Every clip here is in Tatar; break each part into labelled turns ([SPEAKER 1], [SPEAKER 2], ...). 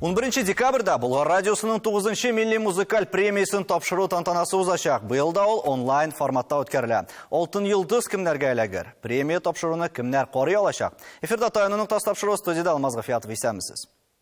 [SPEAKER 1] 11 декабрьда Болгар радиосының 9 милли музыкаль премиясен тапшыру тантанасы узачак. Быел да ул онлайн форматта үткәрелә. Алтын йолдыз кемнәргә эләгер? Премия тапшыруны кемнәр карый алачак? Эфирда Таяну ноктасы тапшыру студияда Алмаз Гафиятов исәмсез.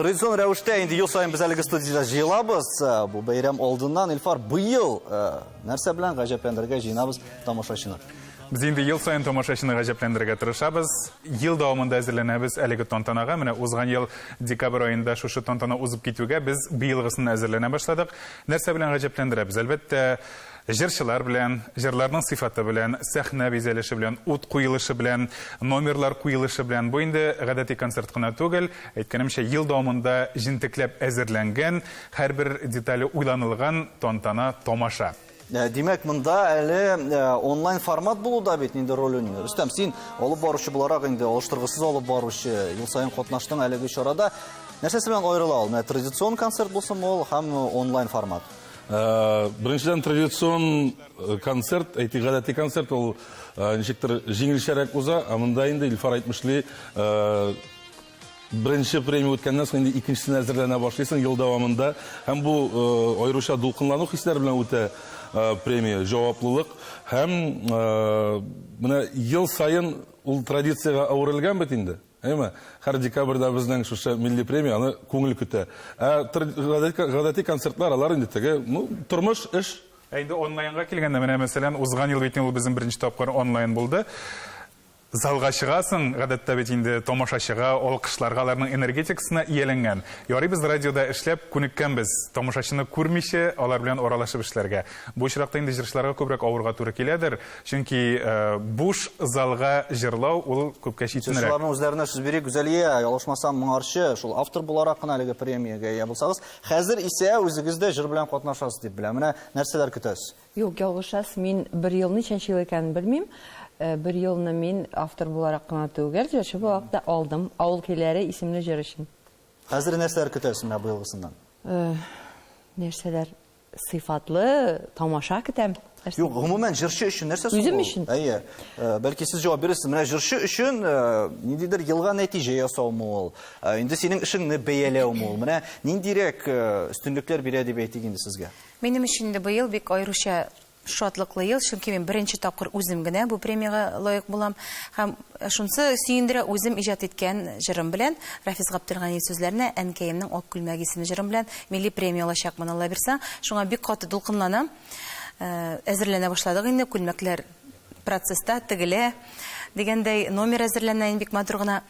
[SPEAKER 1] Традицион рәвештә инде ел саен без әлеге студиядә җыелабыз. Э, бу бәйрәм алдыннан Илфар быел э, нәрсә белән гаҗәпләндергә җыенабыз тамашачыны? Без инде ел
[SPEAKER 2] саен тамашачыны гаҗәпләндерергә тырышабыз. Ел дәвамында әзерләнәбез әлеге тантанага. Менә узган ел декабрь аенда шушы тантана узып китүгә без быелгысын әзерләнә башладык. Нәрсә белән гаҗәпләндерәбез? Әлбәттә, Җырчылар белән, җырларның сыйфаты белән, сәхнә бизәлеше белән, ут куелышы белән, номерлар куелышы белән, бу инде гадәти концерт кына түгел, әйткәнемчә, ел дәвамында җентекләп әзерләнгән, һәрбер детале уйланылган тантана-тамаша. Димәк, монда
[SPEAKER 1] әле онлайн формат булу да бит инде роль уйный. Рөстәм, син алып баручы буларак инде алыштыргысыз алып баручы, ел саен катнаштың әлеге чарада. Нәрсәсе белән аерыла ул? Менә традицион концерт булсынмы ул һәм онлайн формат? Беренчедән,
[SPEAKER 3] традицион концерт, әйтик, гадәти концерт, ул ничектер җиңелчәрәк уза, ә монда инде Илфар әйтмешли, беренче премия үткәннән соң инде икенчесенә әзерләнә башлыйсың ел дәвамында. Һәм бу аеруча дулкынлану хисләре белән үтә премия, җаваплылык. Һәм менә ел саен ул традициягә әверелгән бит инде. Әйме, һәр декабрьдә безнең шушы милли премия аны күңел көтә. Ә тр гадәти гадәти концертлар алар инде теге, ну, тормыш, эш. Ә инде онлайнга
[SPEAKER 2] килгәндә, менә мәсәлән, узган ел бит инде ул безнең беренче тапкыр онлайн булды. Залга чыгасың, гадәттә бит инде тамашачыга, алкышларга, аларның энергетикасына ияләнгән. Ярый без радиода эшләп күнеккәнбез тамашачыны күрмичә алар белән аралашып эшләргә. Бу очракта инде җырчыларга күбрәк авырга туры киләдер. Чөнки буш залга җырлау ул күпкә читенрәк. Шуларның үзләренә сүз бирик.
[SPEAKER 1] Гүзәлия, ялгышмасам, моңарчы, шул автор буларак кына әлеге премиягә ия булсагыз, хәзер исә үзегез дә җыр белән катнашасыз дип беләм. Менә нәрсәләр көтәс? Юк, ялгышасыз,
[SPEAKER 4] мин бер ел ничәнче ел икәнен белмим. Бер елны мин автор буларак кына түгел, җырчы буларак та алдым, Авыл көйләре исемле җыр өчен. Хәзер нәрсәләр
[SPEAKER 1] көтәсез менә быелгысыннан?
[SPEAKER 4] Нәрсәләр? Сыйфатлы тамаша көтәм. Юк, гомумән
[SPEAKER 1] җырчы өчен нәрсә соң? Үзем өчен. Әйе.
[SPEAKER 4] Э, бәлки
[SPEAKER 1] сез җавап бирерсез. Менә җырчы өчен э, ниндидер елга нәтиҗә ясаумы ул? Э, инде синең эшеңне бәяләүме ул? Менә ниндирәк өстенлекләр бирә дип әйтик инде сезгә? Минем өчен инде быел
[SPEAKER 5] бик аеруча Шатлыклы ел, чөнки мин беренче тапкыр үзем генә бу премиягә лаек булам. Һәм шунысы сөендерә, үзем иҗат иткән җырым белән, Рафис Гаптелгани сүзләренә Әнкәемнең ак күлмәге исемле җырым белән милли премия алачакмын, Алла бирса. Шуңа бик каты дулкынланам. Әзерләнә башладык инде, күлмәкләр процесста, тегелә. Дигәндәй, номер әзерләнә, бик матур гына.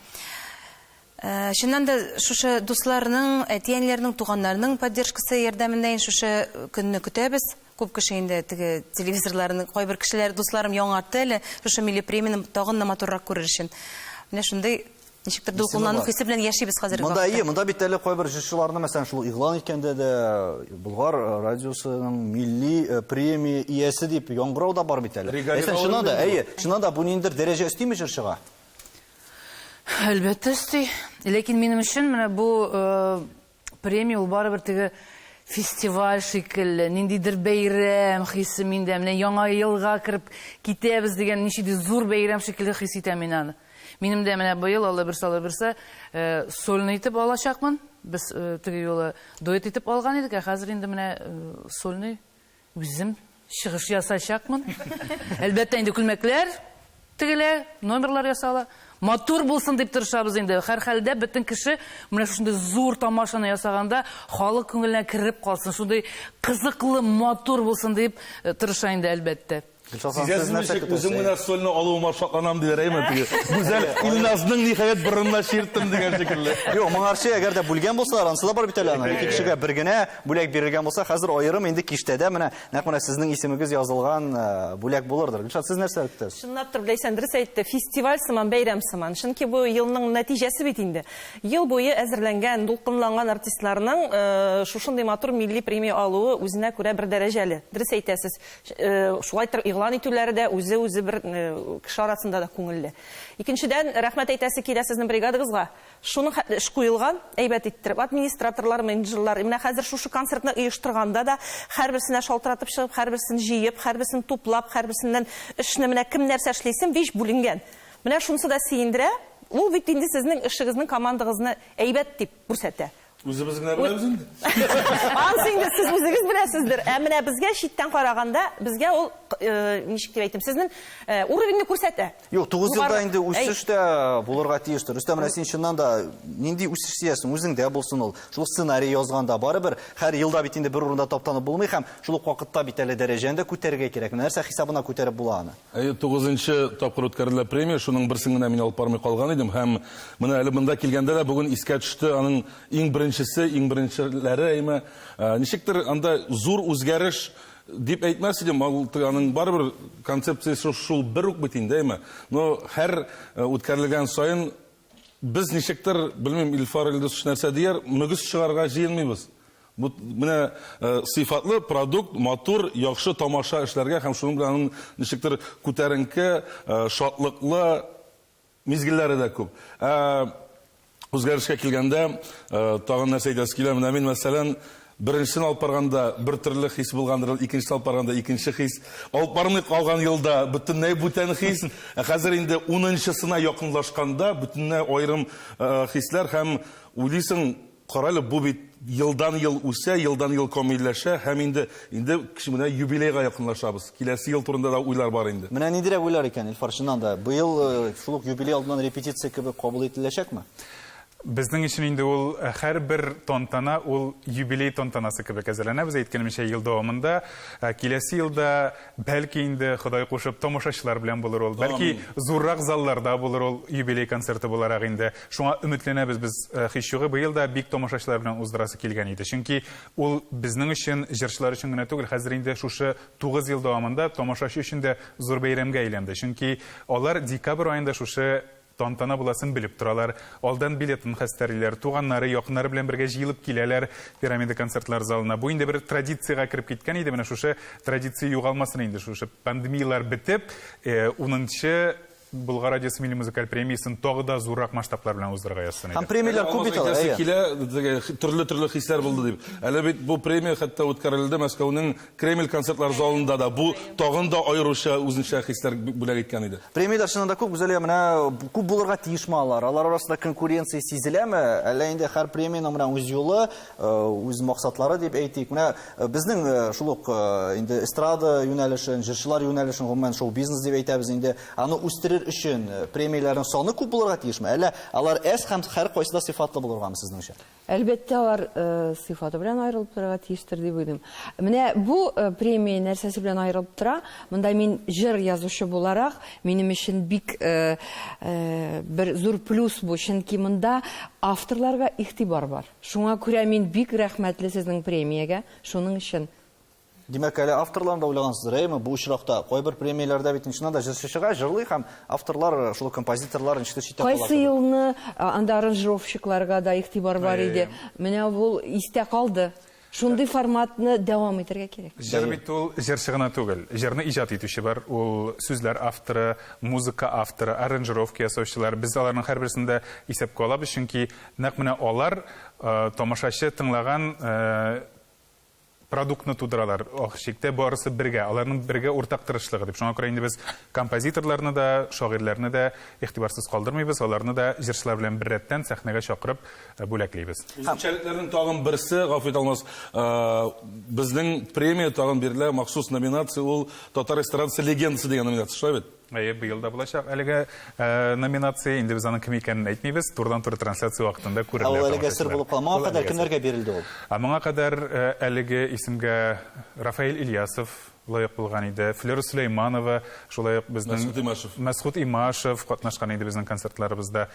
[SPEAKER 5] Чыннан да, шушы дусларның, әти-әниләрнең, туганнарның поддержкасы ярдәмендәен шушы көнне көтәбез. Күп кеше инде теге телевизорларын, кайбер кешеләр, дусларым яңартты әле, шушы милли премияне тагын да матуррак күрер өчен. Менә шундый ничектер дулкынлану хисе белән яшибез хәзерге вакытта. Монда, монда бит әле кайбер
[SPEAKER 1] җырчыларны, мәсәлән, шул игълан иткәндә дә Болгар радиосының милли э, премия иясе дип яңгырау да бар бит әле. Әйсән, чыннан да, әйе, чыннан да бу ниндидер дәрәҗә өстиме җырчыга? Әлбәттә
[SPEAKER 6] өсти. Ләкин минем өчен менә бу э, премия ул барыбер теге фестиваль шикелле, ниндидер бәйрәм хисе миндә. Менә яңа елга кереп китәбез дигән ничеди зур бәйрәм шикелле хис итәм мин аны. Минем дә менә быел Алла бирсә, Алла бирсә, э, сольный итеп алачакмын. Без э, теге юлы дуэт итеп алган идек, ә хәзер инде менә э, сольный Үзем чыгыш ясачакмын. Әлбәттә инде күлмәкләр тегелә, номерлар ясала. Матур булсын дип тырышабыз инде. Һәрхәлдә бөтен кеше менә шушындый зур тамашаны ясаганда халык күңеленә кереп калсын, шундый кызыклы, матур булсын дип тырыша инде әлбәттә. Сизәсез ничек,
[SPEAKER 3] үзем генә сольны алуыма шатланам, диләр әйме теге. Гүзәл, Илназның ниһаять борынына чирттем дигән шикелле. Юк, моңарчы әгәр
[SPEAKER 1] дә бүлгән булсалар, ансы да бар бит әле аны. Ике кешегә бер генә бүләк бирелгән булса, хәзер аерым инде киштәдә менә нәкъ менә сезнең исемегез язылган э, бүләк булырдыр. Гөлшат, сез нәрсә көтәсез? Чынлап тор Ләйсән дөрес
[SPEAKER 7] әйтте, фестиваль сыман, бәйрәм сыман. Чөнки бу елның нәтиҗәсе бит инде. Ел буе әзерләнгән, дулкынланган артистларның э, шушындый матур милли премия алуы үзенә күрә бер дәрәҗәле. Дөрес әйтәсез. Шулайтыр игълан итүләре дә үзе-үзе бер кеше арасында да күңелле. Икенчедән, рәхмәт әйтәсе килә сезнең бригадагызга. Шуның хәтле эш куелган, әйбәт иттереп. Администраторлар, менеджерлар, менә хәзер шушы концертны оештырганда да, һәрберсенә шалтыратып чыгып, һәрберсен җыеп, һәрберсен туплап, һәрберсеннән эшне менә кем нәрсә эшлисен, биш бүленгән. Менә шунысы да сөендерә. Ул бит инде сезнең эшегезнең, командагызны әйбәт дип күрсәтә. Үзебез генә беләбез
[SPEAKER 3] инде. Анс инде
[SPEAKER 7] сез үзегез беләсездер. Ә менә безгә читтән караганда, безгә ул э, ничек дип әйтим, сезнең э, уровеньне күрсәтә. Юк, 9 елда инде
[SPEAKER 1] үсеш тә булырга тиештер. Рөстәм, менә син чыннан да нинди үсеш сөясең, үзеңдә булсын ул. Шул сценарий язганда барыбер һәр елда бит инде бер урында таптанып булмый һәм шул ук вакытта бит әле дәрәҗәне дә күтәрергә кирәк. Нәрсә хисабына күтәреп була аны? Әйе, тугызынчы тапкыр
[SPEAKER 3] үткәрелә премия, шуның берсен генә мин алып бармый калган идем һәм менә әле монда килгәндә дә бүген искә төште аның иң беренчесе, иң беренчеләре әйме. Ничектер анда зур үзгәреш дип әйтмәс идем, аның барыбер концепциясе шул бер үк бит инде, әйме. Но һәр үткәрелгән саен Без ничектер, белмим, Илфар Илдусович нәрсә дияр, мөгез чыгарырга җыенмыйбыз. Бу менә сыйфатлы продукт, матур, яхшы тамаша эшләргә һәм шуның белән аның ничектер күтәренке, шатлыклы мизгелләре дә күп. Ә үзгәрешкә килгәндә, тагын нәрсә әйтәсе килә, менә мин, мәсәлән, Беренчесен алып барганда бер төрле хис булгандыр ул, икенчесен алып барганда икенче хис. Алып бармый калган елда бөтенләй бүтән хис. Ә хәзер инде унынчысына якынлашканда бөтенләй аерым хисләр һәм уйлыйсың, карале, бу бит елдан-ел үсә, елдан-ел камилләшә һәм инде, инде менә юбилейга якынлашабыз. Киләсе ел турында да уйлар бар инде. Менә ниндирәк уйлар икән,
[SPEAKER 1] Илфар, чыннан да, быел шул ук юбилей алдыннан репетиция кебек кабул ителәчәкме? Безнең
[SPEAKER 2] өчен инде ул һәрбер тантана ул юбилей тантанасы кебек әзерләнәбез, әйткәнемчә, ел дәвамында. Киләсе елда, бәлки инде, Ходай кушып, тамашачылар белән булыр ул. Бәлки, зуррак залларда булыр ул юбилей концерты буларак инде. Шуңа өметләнәбез без. Һичьюгы быел да бик тамашачылар белән уздырасы килгән иде. Чөнки ул безнең өчен, җырчылар өчен генә түгел, хәзер инде шушы тугыз ел дәвамында тамашачы өчен дә зур бәйрәмгә әйләнде. Чөнки алар декабрь аенда шушы Тантана буласын белеп торалар. Алдан билетын хәстәрлиләр. Туганнары, якыннары белән бергә җыелып киләләр Пирамида концертлар залына. Бу инде бер традициягә кереп киткән иде. Менә шушы традиция югалмасын инде, шушы пандемияләр бетеп, унынчы Болгар радиосы милли музыкаль премиясен тагы да зуррак масштаблар белән уздырырга язсын иде. Һәм премияләр күп бит алар,
[SPEAKER 1] әйе.
[SPEAKER 3] Төрле-төрле хисләр булды дип. Әле бит бу премия хәтта үткәрелде Мәскәүнең Кремль концертлар залында да бу тагын да аеруча үзенчә хисләр бүләк иткән иде. Премияләр чынында күп гүзәлия,
[SPEAKER 1] менә күп булырга тиешме алар? Алар арасында конкуренция сизеләме? Әллә инде һәр премиянең менә үз юлы, э, үз максатлары дип әйтик. Менә э, безнең э, шул ук инде эстрада юнәлешен, җырчылар юнәлешен, гомумән шоу-бизнес дип әйтәбез инде. Аны үстерер өчен премияләрнең саны күп булырга тиешме? Әллә алар әз һәм һәркайсы да сыйфатлы булыргамы сезнеңчә? Әлбәттә, алар
[SPEAKER 4] сыйфаты белән аерылып торырга тиештер дип уйлыйм. Менә бу премия нәрсәсе белән аерылып тора? Монда мин җыр язучы буларак, минем өчен бик бер зур плюс бу, чөнки монда авторларга игътибар бар. Шуңа күрә мин бик рәхмәтле сезнең премиягә шуның өчен. Димәк, әле
[SPEAKER 1] авторларны да уйлагансыздыр, әйеме? Бу очракта кайбер премияләрдә бит чыннан да җырчы чыга, җырлый һәм авторлар, шул композиторлар ничектер читтә кала. Кайсы елны
[SPEAKER 4] анда аранжировщикларга да игътибар бар иде. Менә ул истә калды. Шундый форматны дәвам итәргә кирәк. Җыр бит ул җырчы
[SPEAKER 2] гына түгел. Җырны иҗат итүче бар, ул сүзләр авторы, музыка авторы, аранжировка ясаучылар. Без аларның һәрберсен дә исәпкә алабыз, чөнки нәкъ менә алар тамашачы тыңлаган продуктны тудыралар, ахыр чиктә барысы бергә, аларның бергә уртак тырышлыгы дип. Шуңа күрә инде без композиторларны да, шагыйрьләрне дә игътибарсыз калдырмыйбыз, аларны да җырчылар белән беррәттән сәхнәгә чакырып бүләклибез. Үзенчәлекләрнең тагын
[SPEAKER 3] берсе, гафу ит Алмаз, безнең премия тагын бирелә, махсус номинация, ул Татар эстрадасы легендасы дигән номинация, шулай бит? Әйе, быел да булачак
[SPEAKER 2] әлеге номинация. Инде без аның кем икәнен әйтмибез, турыдан-туры трансляция вакытында күрергә Ә ул әлегә сер булып кала. Моңа
[SPEAKER 1] кадәр кемнәргә бирелде ул? Ә моңа кадәр
[SPEAKER 2] әлеге исемгә Рафаэль Ильясов лаек булган иде. Флера Сөләйманова, шулай ук безнең Мәсхүт Имашев. Мәсхүт Имашев катнашкан иде безнең концертларыбызда.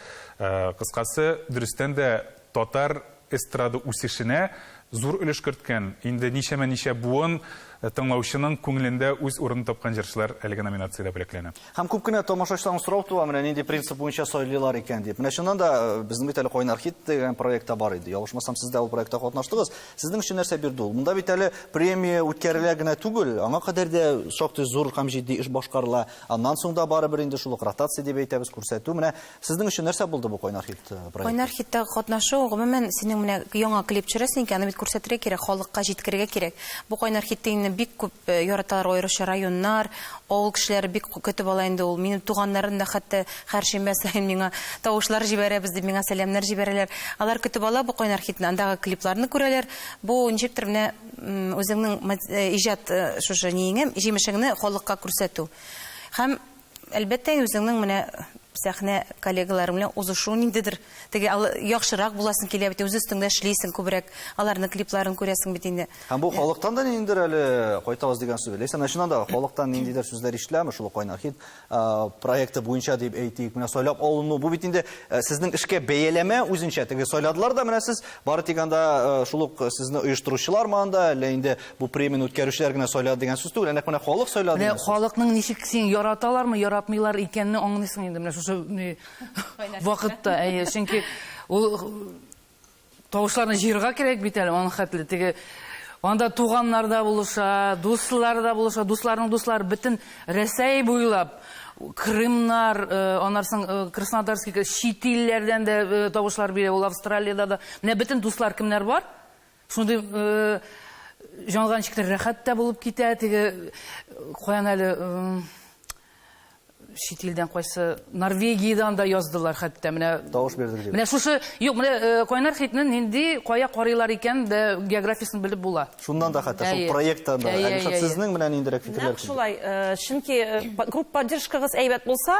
[SPEAKER 2] Кыскасы, дөрестән дә татар эстрада үсешенә зур өлеш керткән, инде ничәмә-ничә буын тыңлаучының күңелендә үз урынын тапкан җырчылар әлеге номинациядә бүләкләнә. Һәм күп кенә тамашачыларның
[SPEAKER 1] сорау туа, менә нинди принцип буенча сайлыйлар икән дип. Менә чыннан да, безнең бит әле Кайнар хит дигән проект та бар иде. Ялгышмасам, сез дә ул проектта катнаштыгыз. Сезнең өчен нәрсә бирде ул? Монда бит әле премия үткәрелә генә түгел, аңа кадәр дә шактый зур һәм җитди эш башкарыла. Аннан соң да барыбер инде шул ук ротация дип әйтәбез, күрсәтү. Менә Сезнең өчен нәрсә булды бу кайнар хит э, проекты? Кайнар хитта катнашу,
[SPEAKER 5] гомумән, синең менә яңа клип төшерәсең икән, аны бит күрсәтергә кирәк, халыкка җиткерергә кирәк. Бу кайнар хитте инде бик күп э, яраталар аеруча районнар, авыл кешеләре бик көтеп ала инде ул. Минем туганнарым да хәтта хәршембә саен миңа тавышлар җибәрәбез дип миңа сәламнәр җибәрәләр. Алар көтеп ала бу кайнар хитне, андагы клипларны күрәләр. Бу ничектер менә үзеңнең э, иҗат шушы ниеңә, җимешеңне халыкка күрсәтү. Һәм Әлбәттә, үзеңнең менә сәхнә коллегаларың белән узышу ниндидер теге яхшырак буласың килә бит, үз өстеңдә эшлисең күбрәк, аларның клипларын күрәсең бит инде. Һәм бу халыктан да
[SPEAKER 1] ниндидер әле кайтабыз дигән сүз. Ләйсән, ә чыннан да халыктан ниндидер сүзләр ишетеләме шул Кайнар хит проекты буенча дип әйтик, менә сайлап алыну, бу бит инде сезнең эшкә бәяләмә үзенчә, теге сайладылар да менә сез, бары тик анда шул ук сезне оештыручылармы анда, әллә инде Бу премияне үткәрүчеләр генә сайлады дигән сүз түгел, ә нәкъ менә халык сайлады. Менә халыкның ничек
[SPEAKER 6] син яраталармы, яратмыйлар икәнне аңлыйсың инде менә шушы вакытта. Әйе, чөнки ул тавышларны җыерга кирәк бит әле, аның хәтле теге Анда туганнар да булыша, дуслар да булыша, дусларның дуслары бөтен Рәсәй буйлап Крымнар, э, анарсың э, Краснодарский, чит илләрдән дә э, тавышлар бирә, ул Австралиядә дә. Менә бөтен дуслар кемнәр бар? Шундый җанга ничектер рәхәт тә булып китә, теге каян әле чит илдән кайсы Норвегиядән дә яздылар хәтта менә. Тавыш бирдек дип. Менә шушы
[SPEAKER 1] юк, менә э,
[SPEAKER 6] Кайнар хитне нинди кая карыйлар икән дә географиясен белеп була. Шуннан да хәтта шул
[SPEAKER 1] проекттан да. Әлишат сезнең менә ниндирәк фикерләр? Нәкъ шулай, э, чөнки
[SPEAKER 7] э, групп поддержкагыз әйбәт булса,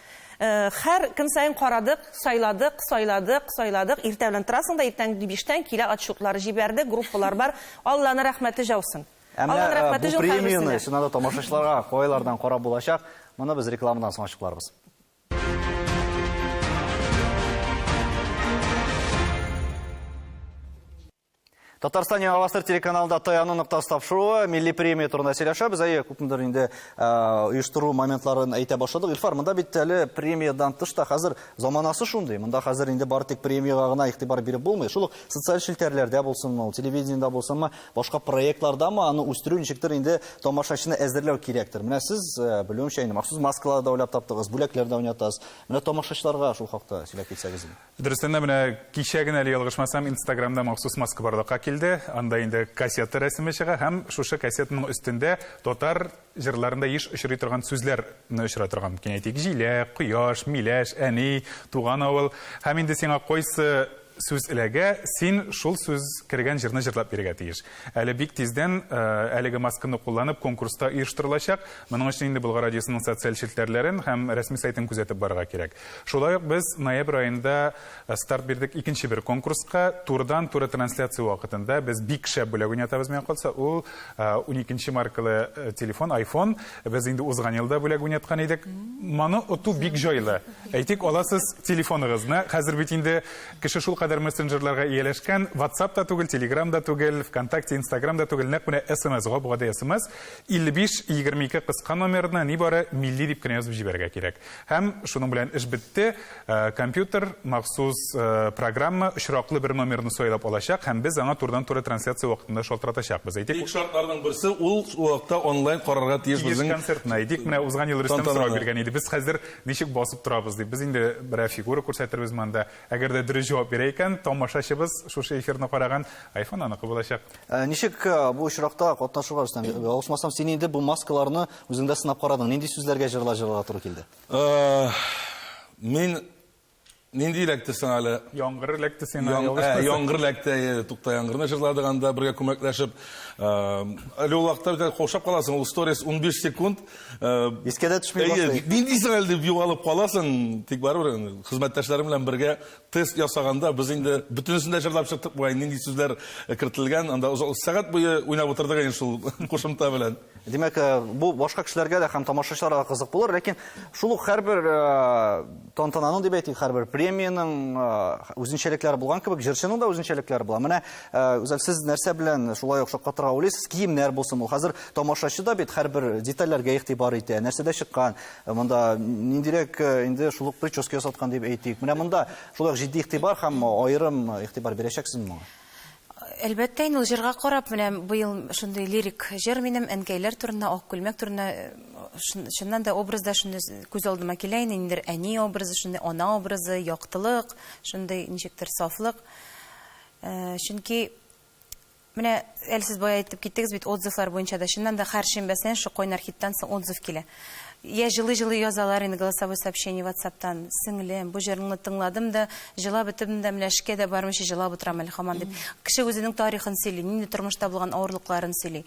[SPEAKER 7] Хәр көн саен карадык, сайладык, сайладык, сайладык, иртә белән торасың да иртәнге биштән килә отчетлар җибәрде, группалар бар, Алланы рәхмәте җаусын. Ә менә бу
[SPEAKER 1] премияне чыннан да тамашачыларга кайлардан карап булачак, моны без рекламадан соң ачыкларбыз. Татарстан Яңа Гасыр телеканалында Таяну ноктасы тапшыруы, милли премия турында сөйләшәбез. Әйе, күпмедер инде оештыру моментларын әйтә башладык. Илфар, монда бит әле премиядан тыш та хәзер заманасы шундый. Монда хәзер инде бары тик премиягә гына игътибар биреп булмый. Шул ук социаль челтәрләрдә булсынмы, телевидениедә булсынмы, башка проектларда ма аны үстерү ничектер инде тамашачыны әзерләү кирәктер. Менә сез, э, белүемчә, инде махсус маскалар да уйлап таптыгыз, бүләкләр дә уйнатасыз. Менә тамашачыларга шул хакта сөйләп китсәгез инде. Дөрестән дә, менә
[SPEAKER 2] кичә генә, әле ялгышмасам, Инстаграмда махсус маска барлыкка килде. Анда инде кассета рәсеме чыга һәм шушы кассетаның өстендә татар җырларында еш очрый торган сүзләр не очрый торган мөмкин, әйтик, җилә, кояш, миләш, әни, туган авыл. Һәм инде сиңа кайсы сүз эләгә, син шул сүз кергән җырны җырлап бирергә тиеш. Әле бик тиздән әлеге масканы кулланып конкурс та оештырылачак. Моның өчен инде Болгар радиосының социаль челтәрләрен һәм рәсми сайтын күзәтеп барырга кирәк. Шулай ук без ноябрь аенда старт бирдек икенче бер конкурска. Турыдан-туры трансляция вакытында без бик шәп бүләк уйнатабыз миңа калса. Ул 12 маркалы телефон, iPhone. Без инде узган елда бүләк уйнаткан идек. Моны оту бик җайлы. Әйтик, аласыз телефоныгызны. Хәзер бит инде кеше шулкадәр мессенджерларга ияләшкән, WhatsApp та түгел, Telegram да түгел, ВКонтакте, Instagram да түгел, нәкъ менә SMS, гап-гади SMS. 5522 кыска номерына нибары милли дип кенә язып җибәрергә кирәк. Һәм шуның белән эш бетте. Компьютер махсус программа очраклы бер номерны сайлап алачак һәм без аңа турыдан-туры трансляция вакытында шалтыратачакбыз. Әйтик. Тик шартларның берсе, ул
[SPEAKER 3] вакытта онлайн карарга тиеш безнең. Тиеш концертны. Әйтик, менә узган
[SPEAKER 2] ел Рөстәм сорау биргән иде, без хәзер ничек басып торабыз дип. Без инде берәр фигура күрсәтербез монда. Әгәр дә дөрес җавап бирә икән, тамашачыбыз шушы эфирны караган, айфон аныкы булачак. Ничек
[SPEAKER 1] бу очракта катнашырга, Рөстәм? Авысмасам, син инде бу маскаларны Үзең дә сынап карадың, нинди сүзләргә җырлар җырларга туры килде? Мин нинди
[SPEAKER 3] эләкте соң әле? Яңгыр эләкте сиңа,
[SPEAKER 2] Яң- ялгыш ә, күрсәт- Яңгыр эләкте, әйе,
[SPEAKER 3] Тукта яңгырны җырладык анда бергә күмәкләшеп. Э, Әле ул вакытта бит әле каушап каласың, ул сторис 15 секунд. э, Искә дә
[SPEAKER 1] төшми Әйе, башлый. нинди соң әле дип югалып
[SPEAKER 3] каласың, тик барыбер инде хезмәттәшләрем белән бергә тест ясаганда без инде бөтенесен дә җырлап чыктык бугай, нинди сүзләр кертелгән, анда озак сәгать буе уйнап утырдык инде шул кушымта белән. Димәк, э, бу
[SPEAKER 1] башка кешеләргә дә һәм тамашачыларга да кызык булыр, ләкин шул ук һәрбер э, тантананың дип әйтик, һәрбер премиянең э, үзенчәлекләре булган кебек, җырчының да үзенчәлекләре була. Менә Үзәл, сез нәрсә белән шулай ук шаккатырга уйлыйсыз? Киемнәр булсын ул. Хәзер тамашачы да бит һәрбер детальләргә игътибар итә. Нәрсәдә чыккан? Монда ниндирәк инде шул ук прическа ясаткан дип әйтик. Менә монда шулай ук җитди игътибар һәм аерым игътибар бирәчәксезме моңа? Әлбәттә
[SPEAKER 5] инде ул җырга карап, менә быел шундый лирик җыр минем әнкәйләр турында, ак күлмәк турында. Чыннан да образда шундый күз алдыма килә инде, ниндидер әни образы, шундый ана образы, яктылык, шундый ничектер сафлык. Чөнки менә әле сез бая әйтеп киттегез бит, отзывлар буенча да, чыннан да һәр шимбәсенә шул Кайнар хиттан соң отзыв килә. Йә җылый-җылый язалар инде голосовой сообщение ватсаптан, сеңлем, бу җырыңны тыңладым да, җылап бетемн дә, менә эшкә дә бармыйча җылап утырам әле хаман, дип. Кеше үзенең тарихын сөйли, нинди тормышта булган авырлыкларын сөйли.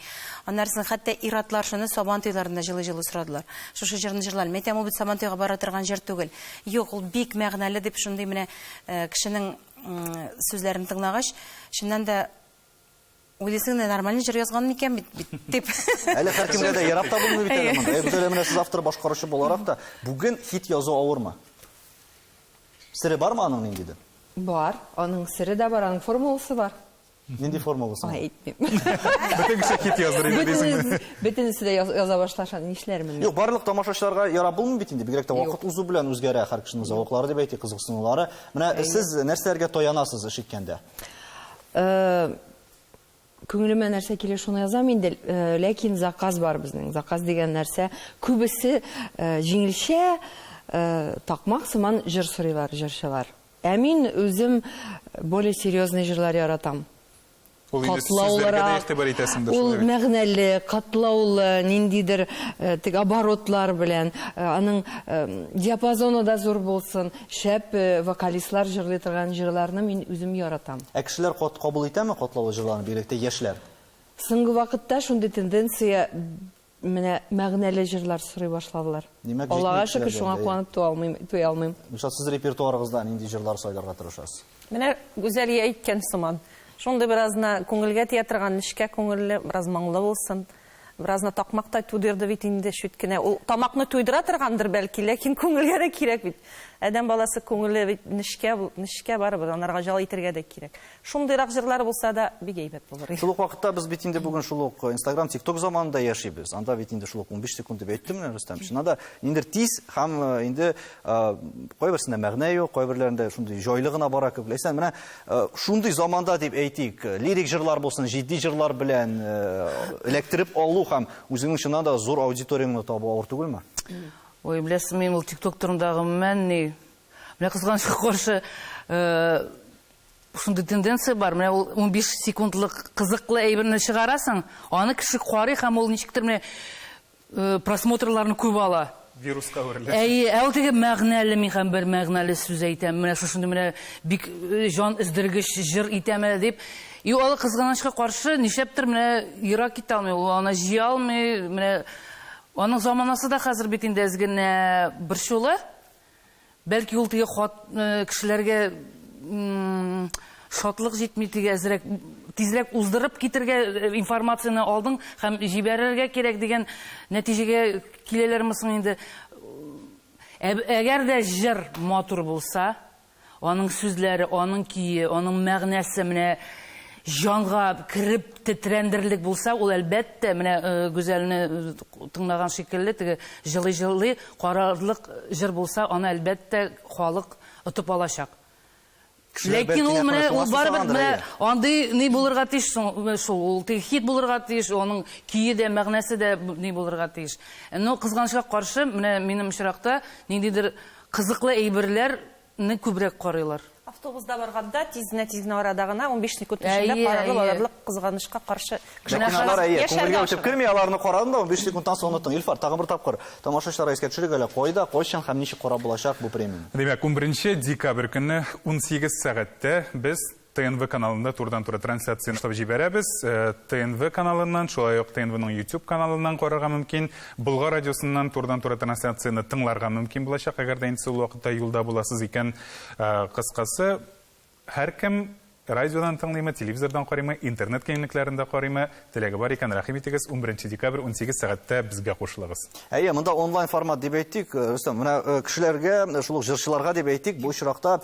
[SPEAKER 5] Аннарысын хәтта ир-атлар шуны Сабантуйларында җылый-җылый сорадылар. Шушы җырны җырлалар. Мин әйтәм, ул бит Сабантуйга бара торган җыр түгел. Юк, ул бик мәгънәле, дип шундый менә кешенең сүзләрен тыңлагач, чыннан да, Уйлыйсың, нормаль җыр язган микән бит бит дип. Әле һәркемгә дә
[SPEAKER 1] ярап та булмый бит әле моны. Ә Гүзәлә менә сез автор башкаручы буларак та бүген хит язу авырмы? Сере бармы аның ниндидер? Бар, аның
[SPEAKER 4] сере дә бар, аның формуласы бар. Нинди формуласы?
[SPEAKER 1] Ай, әйтмим.
[SPEAKER 4] Бөтен кеше
[SPEAKER 2] хит яздырыр иде дисеңме? Бөтенесе дә яза
[SPEAKER 4] башлаша, нишләрмен? Юк, барлык тамашачыларга
[SPEAKER 1] ярап булмый бит инде. Бигрәк тә вакыт узу белән үзгәрә һәр кешенең зәвыклары дип әйтик, кызыксынулары. Менә сез нәрсәләргә таянасыз эш иткәндә?
[SPEAKER 4] Күңелемә нәрсә килә, шуны язам инде. Ләкин заказ бар безнең. Заказ дигән нәрсә, күбесе җиңелчә, такмак сыман җыр сорыйлар җырчылар. Ә мин үзем более серьезный җырлар яратам. Ул инде сүзләргә дә игътибар итәсеңдер, шулай бит? Ул мәгънәле, катлаулы, ниндидер теге оборотлар белән, аның диапазоны да зур булсын. Шәп вокалистлар җырлый торган җырларны мин үзем яратам. Ә кешеләр кат кабул
[SPEAKER 1] итәме катлаулы җырларны, бигрәк тә яшьләр? Соңгы вакытта
[SPEAKER 4] шундый тенденция, менә мәгънәле җырлар сорый башладылар. Димәк, Аллага шөкер, шуңа куанып туя алмыйм, туя алмыйм. Илшат, сез репертуарыгызда
[SPEAKER 1] нинди җырлар сайларга тырышасыз? Менә Гүзәлия
[SPEAKER 7] әйткән сыман, шундый беразына күңелгә тия торган, нечкә күңелле, бераз моңлы булсын. Беразны такмактай тудырды бит инде чүт кенә. Ул тамакны туйдыра торгандыр, бәлки, ләкин күңелгә дә кирәк бит. Адәм баласы күңеле бит нечкә, нечкә барыбер, анарга җал итергә дә кирәк. Шундыйрак җырлар булса да, бик әйбәт булыр иде. Шул ук вакытта без бит инде
[SPEAKER 1] бүген шул ук Instagram, TikTok заманында яшибез. Анда бит инде шул ук 15 секунд дип әйттем менә, Рөстәм. Чыннан да, ниндидер тиз һәм инде кайберсендә мәгънә юк, кайберләрендә шундый җайлы гына бара кебек. Ләйсән, менә Э, шундый заманда дип әйтик, э, лирик җырлар булсын, җитди җырлар белән э, эләктереп алу һәм үзеңнең чыннан да зур аудиторияңне табу авыр түгелме? Ой,
[SPEAKER 6] беләсең, мин ул TikTok турында гомумән ни. Менә кызганычка каршы, шундый тенденция бар. Менә ул 15 секундлык кызыклы әйберне чыгарасың, аны кеше карый һәм ул ничектер менә Просмотрларны күп ала. Вируска әверелә.
[SPEAKER 2] Әйе, ә ул теге
[SPEAKER 6] мәгънәле, мин һәм бер мәгънәле сүз әйтәм, менә шушындый менә бик җан өздергеч җыр итәм әле дип. И ул кызганычка каршы, нишләптер менә ерак китә алмый, ул аны җыя алмый, менә аның заманасы да хәзер бит инде әз генә борчулы. Бәлки ул теге хат э, кешеләргә шатлык җитми теге әзрәк тизрәк уздырып китергә э, информацияне алдың һәм җибәрергә кирәк дигән нәтиҗәгә киләләрме соң инде әгәр дә җыр матур булса Аның сүзләре, аның көе, аның мәгънәсе менә җанга кереп тетрәндерерлек булса, ул әлбәттә, менә Гүзәлне тыңлаган шикелле, теге җылый-җылый карарлык җыр булса, аны әлбәттә халык отып алачак. Ләкин ул менә ул барыбер менә андый ни булырга тиеш шул, ул теге хит булырга тиеш, аның көе дә, мәгънәсе дә ни булырга тиеш. Но кызганычка каршы, менә минем очракта ниндидер Кызыклы әйберләр не күбрәк карыйлар. Автобузда барганда
[SPEAKER 7] тизне тизне арада гына унбиш секунд эчендә карагып алырлык кызганычка каршы Кинолар әйе,
[SPEAKER 1] күңелгә үтеп керми, аларны карадың да унбиш секундтан соң оныттың. Илфар, тагын бер тапкыр тамашачыларга искә төшерик әле, кайда, кайчан һәм ничек карап булачак бу премияне? Димәк, унберенче
[SPEAKER 2] декабрь көнне унсигез сәгатьтә без ТНВ каналында турыдан-туры трансляция ясап җибәрәбез. Э, ТНВ каналыннан, шулай ук ТНВның YouTube каналыннан карарга мөмкин. Болгар радиосыннан турыдан-туры трансляцияне тыңларга мөмкин булачак, әгәр дә инде шул вакытта юлда буласыз икән. Э, кыскасы, һәркем радиодан тыңлыймы, телевизордан карыймы, интернет киңлекләрендә карыймы, Теләге бар икән, рәхим итегез, унберенче декабрь унсигез сәгатьтә безгә кушылыгыз. Әйе, монда онлайн
[SPEAKER 1] формат дип әйтик, э, Рөстәм, менә э, кешеләргә, э, шул ук җырчыларга дип әйтик, бу очракта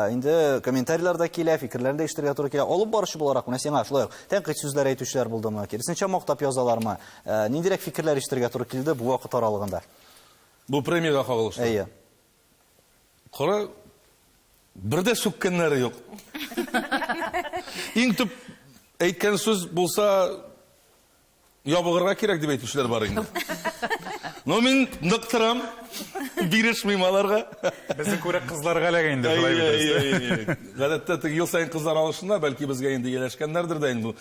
[SPEAKER 1] инде комментарийлар да килә, фикерләрен дә ишетергә туры килә. Алып баручы буларак, менә сиңа шулай ук тәнкыйть сүзләр әйтүчеләр булдымы? Киресенчә мактап язалармы? Ниндирәк фикерләр ишетергә туры килде бу вакыт аралыгында? Бу
[SPEAKER 3] премиягә кагылышлы. Әйе. Кара, бер дә сүккәннәре юк. Иң төп әйткән сүз булса, ябыгырга кирәк дип әйтүчеләр бар инде. Но мин нык торам, бирешмим аларга. Безне күрә
[SPEAKER 2] кызларга эләгә инде шулай бит. Гадәттә теге ел
[SPEAKER 3] саен кызлар алышына, бәлки безгә инде ияләшкәннәрдер дә инде.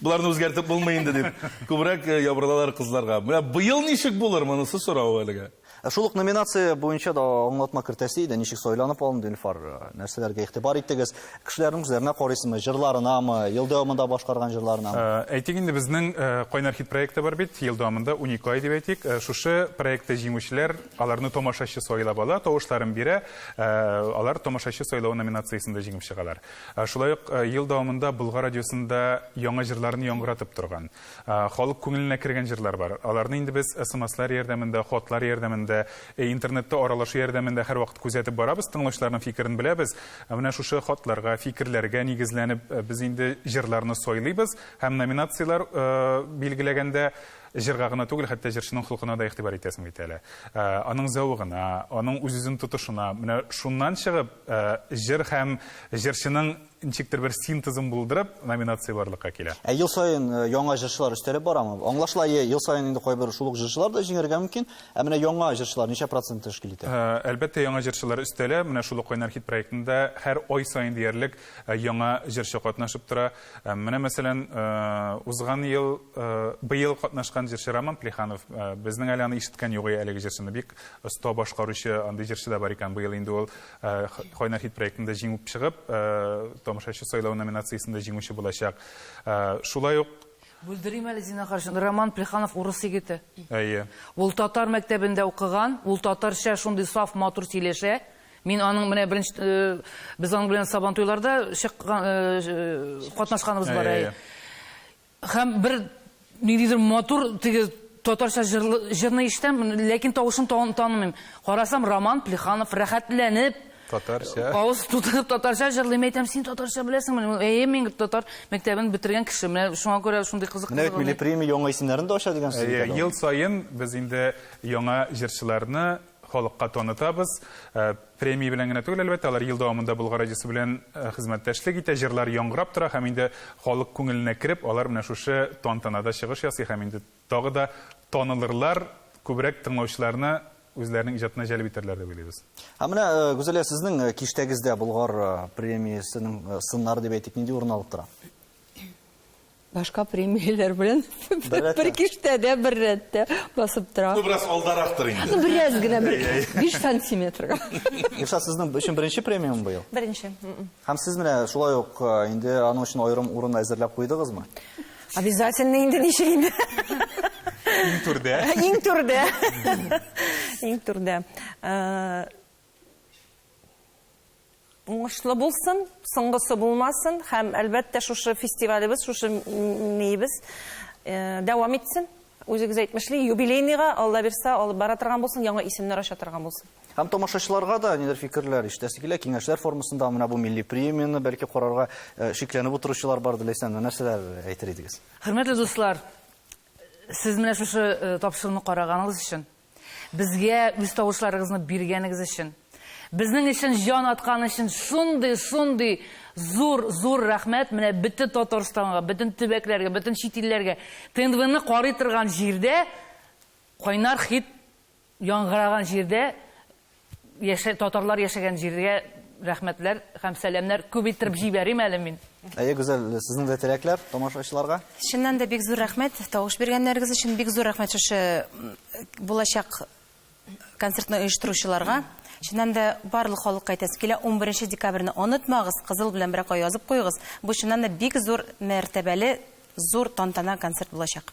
[SPEAKER 3] Боларны үзгәртеп булмый инде дип, күбрәк ябырылалар кызларга. Менә быел ничек булыр, монысы сорау әлегә. Ә шул ук номинация
[SPEAKER 1] буенча да аңлатма кертәсе иде, ничек сайланып алынды Илфар, нәрсәләргә игътибар иттегез? Кешеләрнең үзләренә карыйсызмы, җырларынамы, ел дәвамында башкарган җырларына? Э, әйтик инде, безнең
[SPEAKER 2] э, Кайнар хит проекты бар бит, ел дәвамында уникаль дип әйтик. Э, шушы проектта җиңүчеләр, аларны тамашачы сайлап ала, тавышларын бирә, алар тамашачы сайлавы номинациясендә җиңеп чыгалар. Шулай ук ел дәвамында Болгар радиосында яңа җырларны яңгыратып торган, Халык күңеленә кергән җырлар бар. Аларны инде без смслар ярдәмендә, хатлар ярдәмендә, интернетта аралашу ярдәмендә һәрвакыт күзәтеп барабыз, тыңлаучыларның фикерен беләбез. Менә шушы хатларга, фикерләргә нигезләнеп, без инде җырларны сайлыйбыз һәм номинацияләр билгеләгәндә җырга гына түгел, хәтта җырчының холкына да игътибар итәсең бит әле. Аның зәвыгына, аның үз-үзен тотышына. Менә шуннан чыгып, җыр һәм җырчының Ничектер бер синтезын булдырып, номинация барлыкка килә. Ә ел саен яңа
[SPEAKER 1] җырчылар өстәлеп барамы? Аңлашыла, ел саен инде кайбер шул ук җырчылар да җиңәргә мөмкин. Ә менә яңа җырчылар ничә процентны тәшкил итә? Әлбәттә, яңа җырчылар
[SPEAKER 2] өстәлә. Менә шул ук Кайнар хит проектында һәр ай саен диярлек яңа җырчы катнашып тора. Менә, мәсәлән, узган ел, быел катнашкан җырчы Роман Плеханов. Безнең әле аны ишеткән юк әлеге җырчыны. Бик оста башкаручы, андый җырчы да бар икән, быел инде ул. Ә, Кайнар хит проектында җиңүп чыгып, ә, тамашачы сайлавы номинациясендә җиңүче булачак. Ә, шулай ук Бүлдерим әле,
[SPEAKER 6] зинахар өчен, Роман Плеханов урыс егете. Әйе. Ул
[SPEAKER 2] татар
[SPEAKER 6] мәктәбендә укыган, ул татарча шундый саф, матур сөйләшә. Мин аның менә беренче э, без аның белән сабантуйларда чыккан э, э, катнашканыбыз бар. Әйе, әйе. Һәм бер ниндидер матур теге татарча җырлы җырны ишетәм, ләкин тавышын тан танымыйм. Карасам, Роман Плеханов рәхәтләнеп, Татарча.
[SPEAKER 2] авыз тутырып
[SPEAKER 6] татарча җырлый. Мин әйтәм, син татарча беләсеңмени? Ул, Әйе, мин татар мәктәбен бетергән кеше. Менә шуңа күрә шундый кызык Менә бит милли премия яңа
[SPEAKER 1] исемнәрне дә ача дигән сүз бит Әйе, әле ул. ел саен без
[SPEAKER 2] инде яңа җырчыларны халыкка танытабыз. Премия белән генә түгел, әлбәттә, алар ел дәвамында Болгар радиосы белән хезмәттәшлек итә, җырлар яңгырап тора һәм инде халык күңеленә кереп, алар менә шушы тантанада чыгыш ясый һәм инде тагы да танылырлар, күбрәк тыңлаучыларны үзләренең иҗатына җәлеп итәрләр дип уйлыйбыз. Ә менә, Гүзәлия,
[SPEAKER 1] сезнең киштәгездә Болгар премиясенең сыннары дип әйтик, нинди урын алып тора?
[SPEAKER 4] Башка премияләр белән бер киштәдә бер рәттә басып тора. Ну, бераз алдарактыр инде.
[SPEAKER 3] Ну, бераз гына, бер
[SPEAKER 4] 5 сантиметрга. Юкса сезнең
[SPEAKER 1] өчен беренче премиум быел? Беренче. Һәм
[SPEAKER 7] сез менә
[SPEAKER 1] шулай ук э, инде аның өчен аерым урын әзерләп куйдыгызмы? Обязательно
[SPEAKER 7] инде ничек инде.
[SPEAKER 2] Иң түрдә. Иң түрдә.
[SPEAKER 7] Иң түрдә. Э, Уңышлы булсын, соңгысы булмасын һәм әлбәттә шушы фестивалебез, шушы миебез э, дәвам итсен. Үзегез әйтмешли, юбилейныйга Алла бирсә алып бара торган булсын, яңа исемнәр ача торган булсын. Һәм тамашачыларга
[SPEAKER 1] да нидер фикерләр иштәсе килә, киңәшләр формасында менә бу милли премияне бәлки карарга э, шикләнеп утыручылар бар диләсән, нәрсәләр әйтер идегез? Хөрмәтле дуслар,
[SPEAKER 6] сез менә шушы э, тапшыруны караганыгыз өчен Безгә үз тавышларыгызны биргәнегез өчен, безнең өчен җан аткан өчен шундый, шундый зур, зур рәхмәт. Менә бөтен Татарстанга, бөтен төбәкләргә, бөтен чит илләргә ТНВны карый торган җирдә, кайнар хит яңгыраган җирдә Яшә татарлар яшәгән җиргә рәхмәтләр һәм сәламнәр күп иттереп җибәрим әле мин. Әйе, Гүзәл,
[SPEAKER 1] сезнең дә теләкләр тамашачыларга? Чыннан да бик зур
[SPEAKER 5] рәхмәт тавыш биргәннәрегез өчен, бик зур рәхмәт шушы булачак концертны оештыручыларга. Чыннан да барлык халыкка әйтәсе килә, 11 декабрьне онытмагыз, кызыл белән беракка язып куегыз. Бу чыннан да бик зур мәртәбәле, зур тантана концерт булачак.